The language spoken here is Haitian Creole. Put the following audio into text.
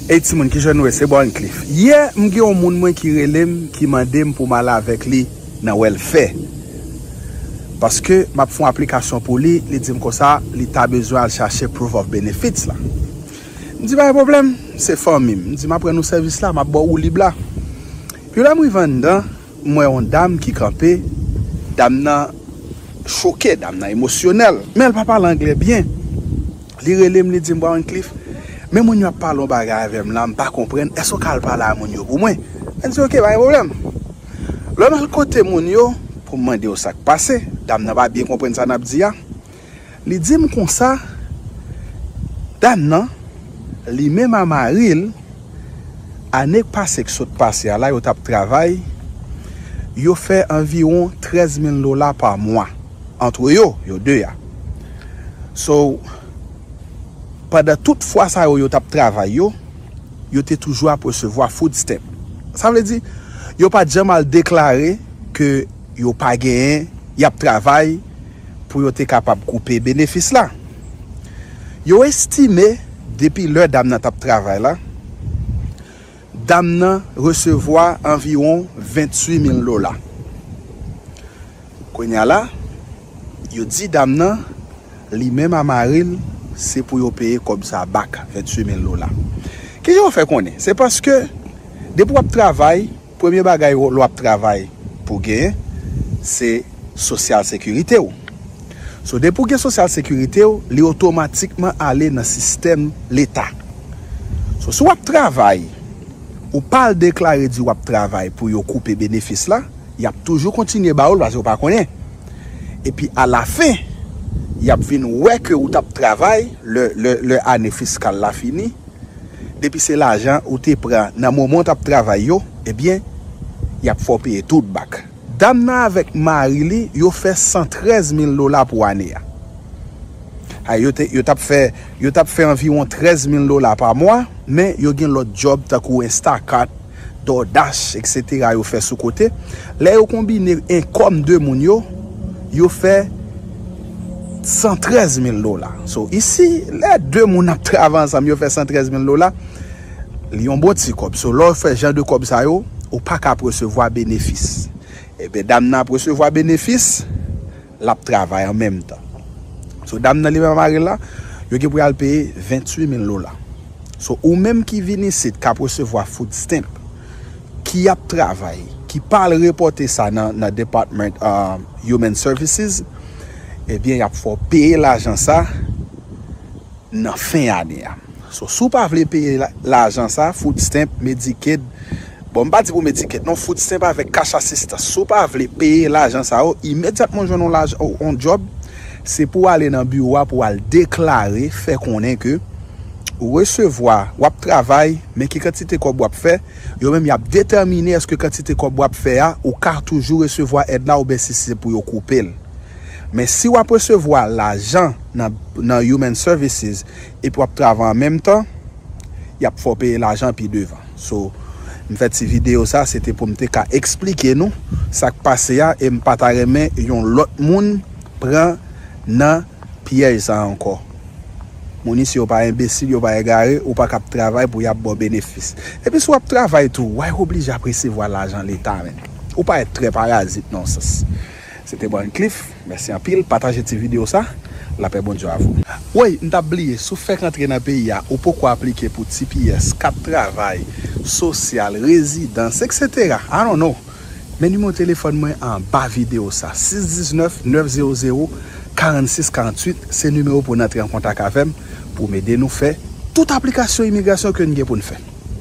Ey timoun kijan nou ye se Borncliff yè m gen yon moun mwen ki relem ki mandem pou m al avèk li nan wèlfè paske map fon aplikasyon pou li li dim konsa li ta bezwen al chache proof of benefits la m di pa gen pwoblèm se fanmi m di map rann ou sèvis la map baw woulib la pi lèm rive anndan M wè yon dam ki kanpe, dam nan choke, dam nan emosyonèl, men l pa pale anglè byen. Li rele m, li di m, Bwa Wyclif, men moun yo ap pale yon bagay avè m la, m pa konprann, èske w ka al pale a moun yo pou mwen? Mwen di, Ok, pa gen pwoblèm. Lè m al kote moun yo pou m mande yo sa k pase, dam nan pa byen konprann sa n ap di a. Li di m konsa, Dam nan, li menm a mari l, ane k pase k sot pase a la yo t ap travay, yo fè anviwon 13 mil dola pa mwa antre yo, yo 2 a. So, pandan tout fwa sa yo yo t ap travay yo, yo te toujou ap resevwa food stamp. Sa vle di, yo pa t janm al deklare ke yo pa genyen, y ap travay, pou yo te kapab koupe benefis la. Yo estime depi lè dam nan t ap travay la, dam nan resevwa anviwon 28 mil dola. Kounye a la, yo di dam nan li menm a mari l se pou yo peye kòb sa a bak, 28 mil dola. Kijan yo fè konnen? Se paske depi w ap travay. Premye bagay w ap travay pou w genyen, se sosyal sekirite w. So depi w gen sosyal sekirite w, li otomatikman ale nan sistèm leta. So si w ap travay, ou pa al deklare di w ap travay pou yo koupe benefis la, y ap toujou kontinye ba ou l paske yo pa konnen. Epi alafen, y ap vin wè ke ou t ap travay lè ane fiskal la fini. Depi se lajan ou te pran nan moman w tap travay yo ebyen yap fè w peye tout bak. Dam nan avèk mari li yo fè 113 mil dola pou ane a. A yo te yo tap fè yo tap fè anviwon 13 mil dola pa mwa men yo gen lòt djòb tankou Instacart, DoorDash, etc. Yo fè sou kote. Lè yo konbine enkom 2 moun yo, yo fè 113 mil dola. So, isi, lè 2 moun ap travay ansanm, yo fè 113 mil dola, li yon bon ti kob. So, lè w fè jan de kob sa yo, ou pa ka ap resevwa benefis. Ebyen, dam nan ap resevwa benefis. Lap travay an menm tan. So dam nan li menm ak maril la yo gen pou yal peye 28 mil dola. So ou menm ki vin isit kap resevwa food stamp ki ap travay ki pa al repote sa nan department human services ebyen yap fè w peye lajan sa. nan fen ane a. So si w pa vle peye lajan sa, food stamp, Medicaid, bon m pa di pou Medicaid non, food stamp avèk cash assistance, si w pa vle peye lajan sa yo, imedyatman w jwenn yon lajan, yon djòb, se pou w ale nan biwo a pou w al deklare, fè konnen ke ou resevwa, w ap travay, men ki kantite kòb w ap fè, yo menm y ap detèmine èske kantite kòb w ap fè a, ou ka toujou resevwa èd la oubyen si se pou yo koupe l. Men si w ap resevwa lajan. nan human services epi wap travay an menm tan yap fè w peye lajan pi devan so m fè ti video sa se te pou m te ka eksplike nou sak pase a e m pa ta renmen yon lòt moun pran nan pyèj sa ankò moun isi yo pa enbesil yo pa egare ou pa ka ap travay pou yap ba w benefis epi si wap travay tou way oblije ap resevwa lajan leta menn ou pa èt trè parazit non sens. Se te Wancliff, mèsi anpil, pataje ti video sa, lapè Bondye avou. Woy m tap bliye si w fèk antre nan peyi a ou poko aplike pou tps, kat travay, sosyal, rezidans etc I don't know men nimewo telefòn mwen anba videyo sa 619 900 46 48 se nimewo pou n antre an kontak avèm pou m ede nou fè tout aplikasyon imigrasyon ke n gen pou n fè.